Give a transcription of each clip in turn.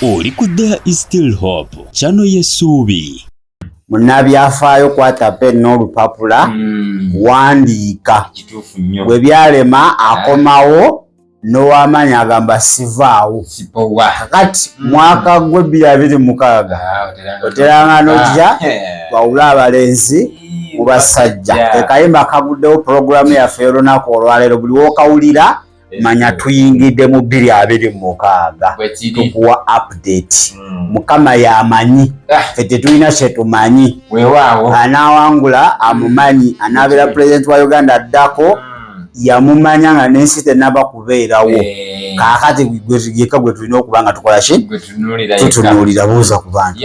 oli ku there is still hope kyano yesuubi munnabyafaayo kwata pen n'olupapula hmm. wandiika bwe byalema akomawo n'owamaanyi agamba sivaawo kakati hmm. mwaka gwe bbiri abiri mukaaga ah, oteranga nojja ah, wawula abalenzi mu basajja ekayimba kaguddewo pulogulaamu yaffe y'olunaku olwaleero buli w'okawulira eh, manya tuyingidde mu bbiri abiri mukaaga tukuwa update hmm. mukama yamanyi ah. fe tetulina kyetumanyi anawangula amumanyi anabeera president wa uganda addako hmm. yamumanya nga nensi tenaba kubeerawo eh. kakati yeka gwe tulina okuba nga tukola ki tutunuulira buuza ku bantu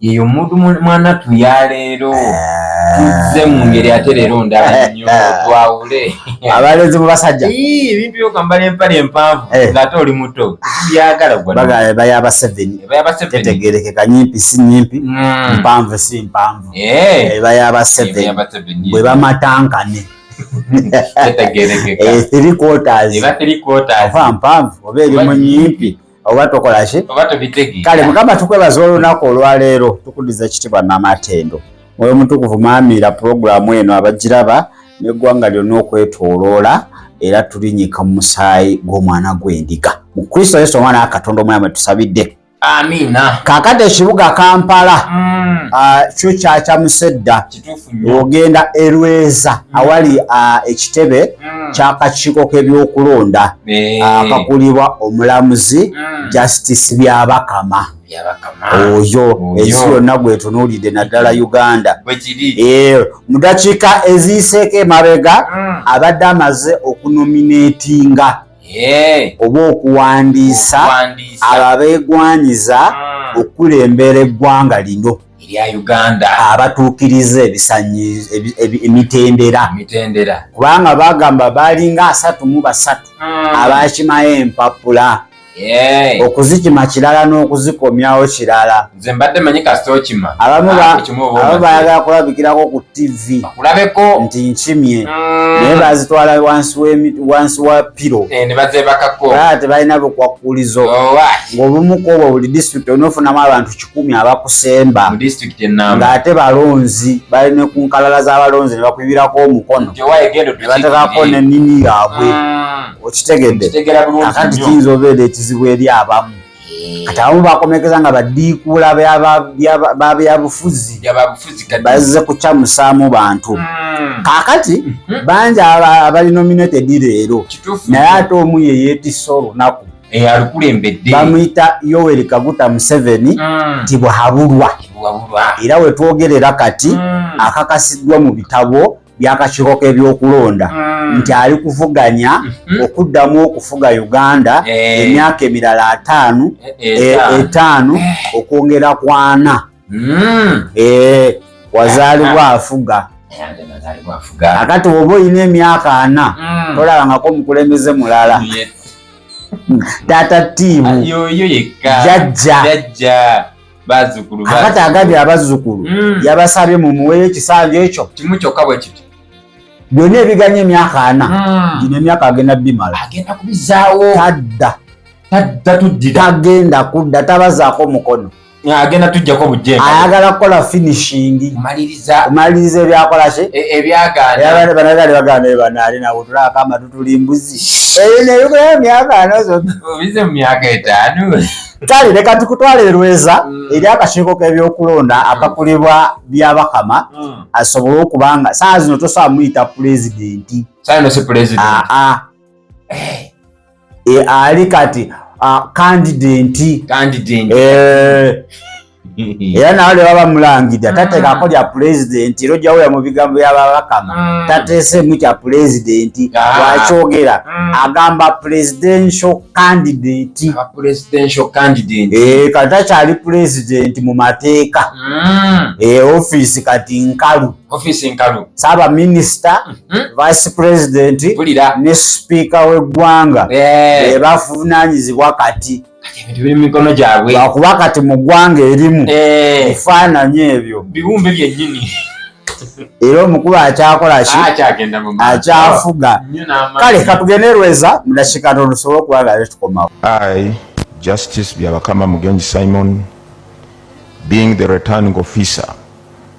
yeyo omuntu mwanattu yaleero tuzze mu ngeri ate leero ndala nyo twawule abalenzi mu basajja ebintu byokambala empale empanvu eh. ngaate oli muto byagala gwabayabasevenitetegerekeka nyimpi si nyimpi hmm. mpanvu si mpanvu eh. ebayabaseven eh, bwe bamatankane etegerekeka mpanvu oba eri mu nyimpi oba tokola ki oba tubitege kale mukama tukwebaza olunaku olwaleero tukudiza ekitibwa n'amatendo mwoyo omutukuvu maamiira pulogulaamu eno abagiraba n'eggwanga lyonna okwetoloola era tulinyika mu musaayi gw'omwana gw'endiga mu kristo yesu omwana wa katonda omulamu tusabidde amiina kakati ekibuga kampala mm. ah, kyo kyakyamusedda ogenda erweza mm. awali uh, ekitebe mm. kyakakiiko k'ebyokulonda eh. uh, akakulibwa omulamuzi mm. justice byabakama oyo ensi yonna gwetunuulidde naddala uganda eh, mu dakiika eziyiseeko emabega abadde amaze okunominatinga oba okuwandiisa abo abeegwanyiza okukulembera eggwanga lino erya uganda abatuukiriza ebisanyi emitendera emitendera kubanga bagamba balinga asatu mu basatu hmm. abakimayo empapula okuzikima kirala n'okuzikomyawo kirala nze mbadde manyi kasita okima abamu ah, bayagala kulabikirako ku ttivi kulabeko nti nkimye mm. naye bazitwala wansi wa piro eh, nebazebakako aa tebalina bukwakkulizo oh, ng'obumu kwobwo buli disitulikiti onofunamu abantu kumi abakusemba ng'ate balonzi bali ne ku nkalala z'abalonzi ne bakuyibirako omukono ne batekako nenini yaabwe ah. okitegedde akati kiyinza obeera ekizibu eri abamu eh. kati abamu bakomekeza nga badiikuula babyabufuzi bazze kukyamusaamu bantu hmm. kakati hmm. bangi abali nominated leero naye ate omu yeyeetisa olunaku eyalukulembedde bamuyita yoweri kaguta museveni mm. nti bwahabulwa era wetwogerera kati mm. akakasiddwa mu bitabo byakakiiko k'ebyokulonda mm. nti ali kuvuganya mm-hmm. okuddamu okufuga uganda eh. emyaka emirala ataano eh, eh, etaano okwongera kwana mm. eh, wazaalibwa ah. afuga akati oba olina emyaka ana mm. tolabangako omukulembeze mulala taata tiimu jajja akati agabye abazzukulu mm. yabasabye mumuweyo ekisanja ekyo kimu kyokka bwe kiti byonna ebiganye emyaka ana hmm. gino emyaka agenda bimala agenda kubizaawo tadda tadda tuddira tagenda kudda tabazaako mukono agenda tujjako bujjemba ayagala kukola finishing maliriza maliriza ebyakola ki e, ebyagaana yabale banagale bagana eba nali na utula kama tutuli mbuzi eyo ne yuko ya myaka anozo bize myaka etano tali leka tukutwale rweza mm. eri akashiko ke byokulonda mm. akakulibwa byabakama mm. asobola okubanga saa zino tosa muita president saa no si president a ah, a ah. eh. e, ali kati kandidenti eh. era nawe lwe baba mulangidde ah. tateekako lya pulezidenti era ojjawula mu bigambo byababakama ah. tateeseemu kya pulezidenti ah. wakyogera agamba presidential candidate eh, kati takyali pulezidenti mu mateeka hmm. eh, ofiisi kati nkalu ofiisi nkalu saaba minisita mhm. vice president ne sipiika w'eggwanga eh. ebavunaanyizibwa kati lwakuba kati mu ggwanga erimu eh. efaananyi ebyo biwumbe byennyini era omukulu akyakola ki ah, akyafuga kale katugende lweza mudakika tono tusobole okuba nga tukomawo i justice byabakama mugenzi simon being the returning officer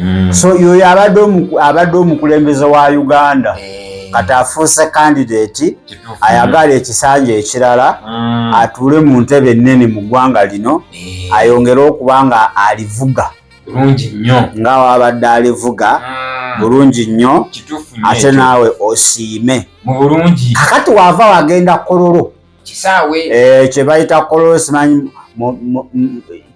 Mm. so yoyo abadde omukulembeze wa uganda eh. kati afuuse kandidati ayagala ekisanja ekirala mm. atuule mu ntebe ennene mu ggwanga lino eh. ayongere okuba nga alivuga bulungi nnyo nga wabadde alivuga ah. bulungi nnyo ate naawe osiime mu bulungi kakati waava wagenda kololo kisaawe eh, kye bayita kololo simanyi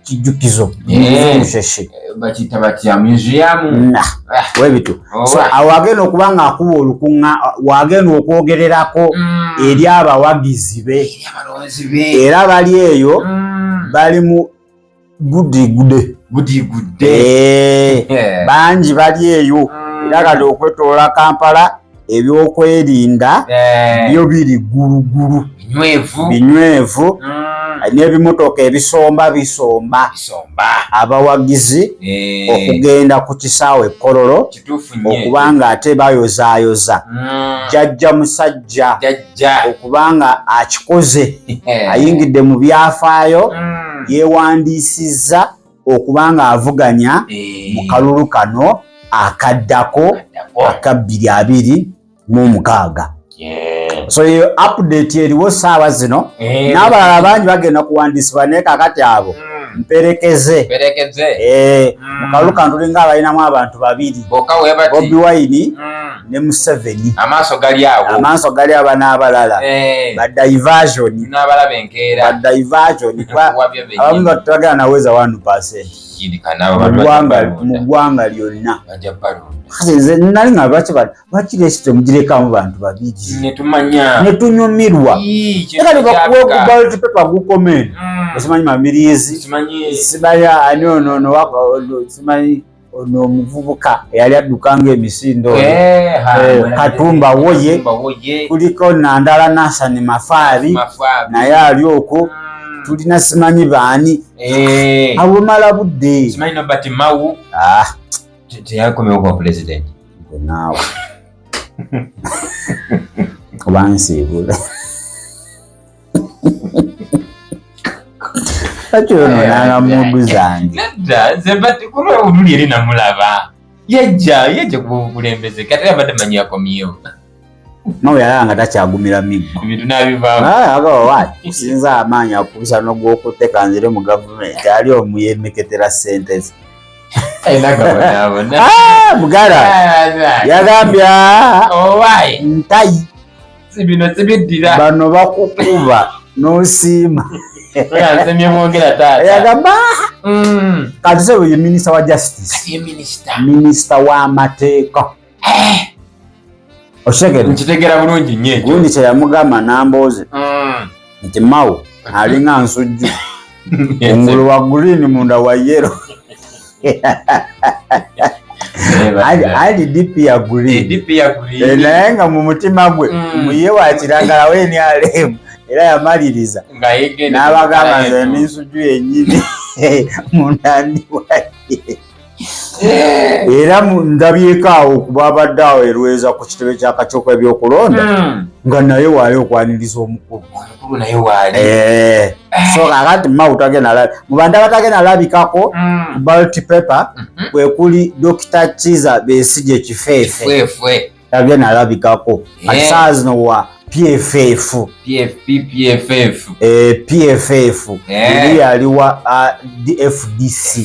kijjukizo eh. musheshe bakiyita batya museum na ah. webitu oh, so awo agenda okuba nga akuba olukuŋŋa wagenda okwogererako mm. eri abawagizi be era bali eyo mm. bali mu gudigudde gudigudde eh, bangi bali eyo mm. era kati okwetoola kampala ebyokwerinda eh. byo biri ggulugulu binywevu hmm. n'ebimotoka ebisomba bisomba abawagizi eh. okugenda ku kisaawe ekkololo okuba nga ate bayozaayoza hmm. jajja musajja okuba nga akikoze eh. ayingidde mu byafaayo hmm. yewandiisizza okuba ng'avuganya eh. mu kalulu kano akaddako aka bbiri abiri mu omukaaga so eyo update eriwo saawa zino eh. n'abalala bangi bagenda kuwandiisibwa naye kakati abo hmm. mperekeze eh, hmm. mu kalulu kano tulinga abalinamu abantu babiri bobi wine hmm. ne museveni amaaso gali awo amaaso gali aba n'abalala eh. badivasioni n'abalaba enkeera badivasioni abamu batagala naweza one percent mu ggwanga lyonna nze nali nga lwaki lwaki lesi temugirekamu bantu babiri netunyumirwa era likakuwekubaltipepa gukomeni mm. osimanyi mamirizi simanya ani ono simanyi ono omuvubuka eyali adduka nga emisindo eh, eh, katumba woye kuliko nandala nasani mafaari naye ali okwo hmm. tulina simanyi baani eh. abumala budde ah. naawe obansiibula bakyonoonanga mmundu zange nedda ze bati kulwa oluli eri namulaba yajja yajja kuba obukulembeze kati era badde manyi akomyewo nawe yalaba nga takyagumira miggo ebintu nabivaamuagawawaati kusinza amaanyi akubisa nogwokutte kanzire mu gavumenti ali omu yemeketera ssente ze mugala yagambye ntayi sibino sibiddira bano bakukuba nosiima yagamba mm. kati sebo ye minisita wa justice minisita w'amateeka eh. okitegera bulungi nyo gundi kyeyamugamba nambooze mm. nti mawo alinga nsujju engulu wa green munda wa yero ali dp ya green eh, naye nga mu mutima gwe mm. muye wakiragala weni alemu era yamaliriza n'abagamba nze n'ensujju yennyini munda ndi waye era ndabyeko awo kuba abadde awo erweza ku kitebe kya kacoka ebyokulonda hmm. nga naye waali okwaniriza omukulu eh. so kakati mubanda batagenda labikako hmm. balt paper mhm. kwekuli dokita kiza besije kifeefe yabye nalabikako ati eh. saa zino wa pff pff pff eri yaliwa dfdc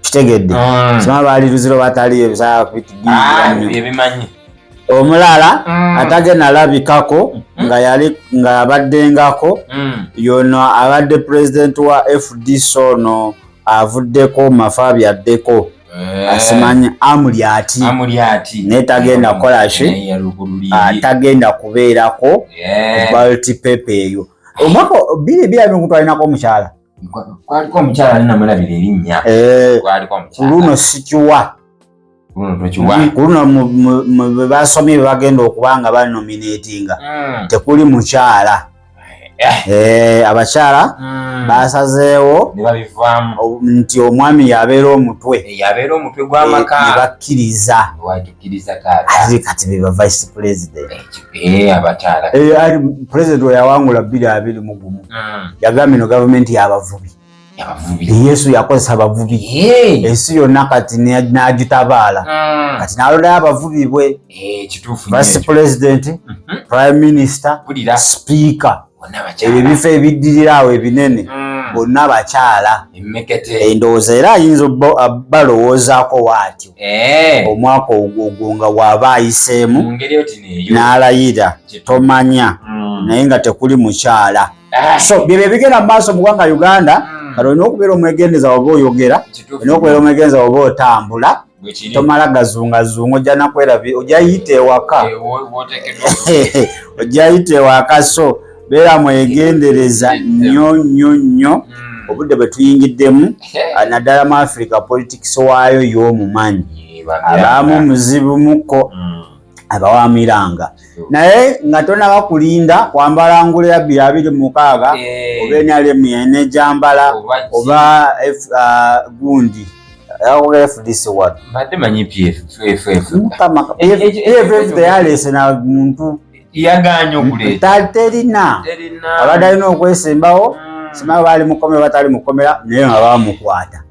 kitegedde mm. sima baali luziro bataliyo ebisaa kubitigiibimanyi ah, omulala mm. atage nalabikako mm. nga yali nga yabaddengako yono abadde pulezidenti wa fdc ono avuddeko mafa byaddeko Eh. asimanya amuli ati naye tagenda kukola ki ah, tagenda kubeerako eh. balti pepe eyo omwaka biri birabinkutwalinako omukyala kwaliko omukyala ninamulabira erinnya eh. luno sikiwa kuluno bebasomye bebagenda okuba nga banominatinga hmm. tekuli mukyala Eh. Eh, abakyala hmm. basazeewo nti omwami yabeera omutwe nebakkiriza kati beba vice president president weyawangula bbiri abiri mugumu hmm. yagambye no gavumenti yabavubi yesu yakozesa abavubi ensi yonna kati nagitabaala ah. kati nalondayo abavubi bwe eh, vice president mhm. prime minister speaker ebyo ebifo ebiddirira awo ebinene mm. bonna bakyala endowooza era ayinza balowoozaako waatyo eh. omwaka ogwo nga waaba ayiseemu n'alayira tomanya mm. naye nga tekuli mukyala Ah, so byebyo ebigenda mu maaso mu gwanga uganda hmm. kati olina okubeera omwegendeza oba oyogera olina okubeera omwegendeza oba otambula tomala gazungazunga ojja nakwerabi ojja yita ewaka eh, ojja yita ewaka so beera mwegendereza nnyo nnyo nnyo hmm. obudde bwe tuyingiddemu ah, naddala mu africa politics waayo y'omumanyi abaamu muzibu muko hmm. abawamiranga naye nga tonaba kulinda kwambala ngule ya bya abiri mukaaga eh. oba enalemu yene gyambala oba ah, gundi muntu terina abadde alina okwesimbawo mm. simaa baali mukomera batali mukomera naye nga bamukwata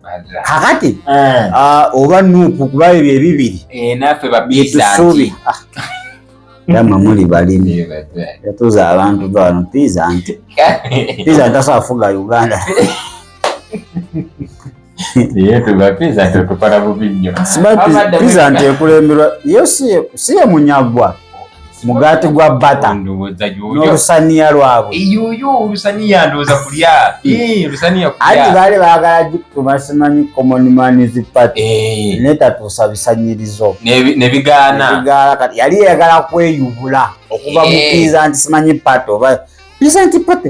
kakati eh. ah, oba nuupu kuba ebyo ebibiri eh, naffe babisuubi yamwe muli balimi yatuza abantu bano piza nti piza ntasa afuga uganda piza nti ekulemberwa yo siye munyagwa mugaati gwa bata n'olusaniya lwabwe eyoyo olusaniya ndowooza kulya olusaniya kulya anti baali baagala gikuma simanyi common mans party eh. netatuusa bisanyirizo nebigaana bigaala kati yali eyagala kweyubula okuva eh. mukiiza nti simanyi party oba isn't party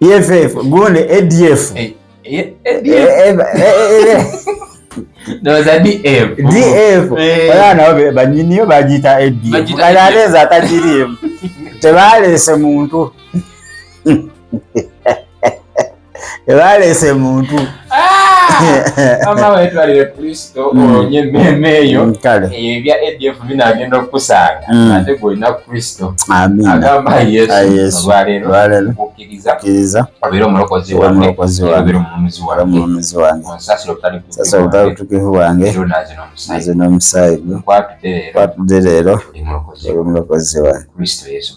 EFF gone ADF eh, eh, eh, DF era nabo banyiniyo bagiyita ADF kale aleeza atagiriimu tebaleese muntu tebaleese muntu mama wetwalire kristo olonye emmeeme eyo ebya adf binaagenda okukusanga ate gwolina kristo agamba yesu olwaleero okukkiriza obeera omulokozi wangeobeera omulumizi wangeomulomizi wange onsasira obutali butukivu bwange naze n'omusaayi gwe kwatudde leero oli mulokozi wange kristo yesu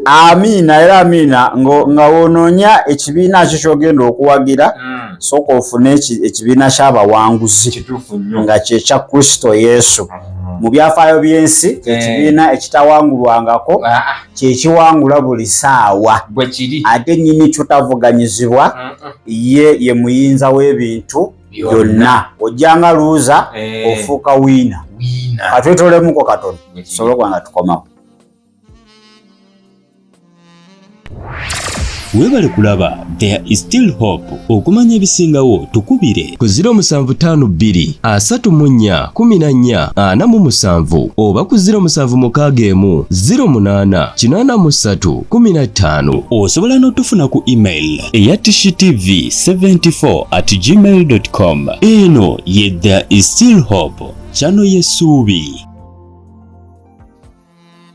amiina era amiina nga wonoonya ekibiina kyo kyogenda okuwagira hmm. sooka ofune ekibiina kyabawanguzi nga kyekya kristo yesu hmm. mu byafaayo by'ensi eh. kyekibiina ekitawangulwangako ah, ah. kyekiwangula buli saawa ate nyini kyotavuganyizibwa hmm, ye ye muyinza w'ebintu byonna ojjanga luuza eh. ofuuka wiina katwetolemuko katono sobolokubanga tukomawo webale kulaba there is still hope okumanya ebisingawo tukubire ku 0752 asatu mu nnya kumi na nnya ana mu musanvu oba ku 07 mukaaga emu 08 kinaana mu ssatu kumi na ttaano osobola n'otufuna ku email eya tv 74 at gmail com eno ye there is still hope kyano yesuubi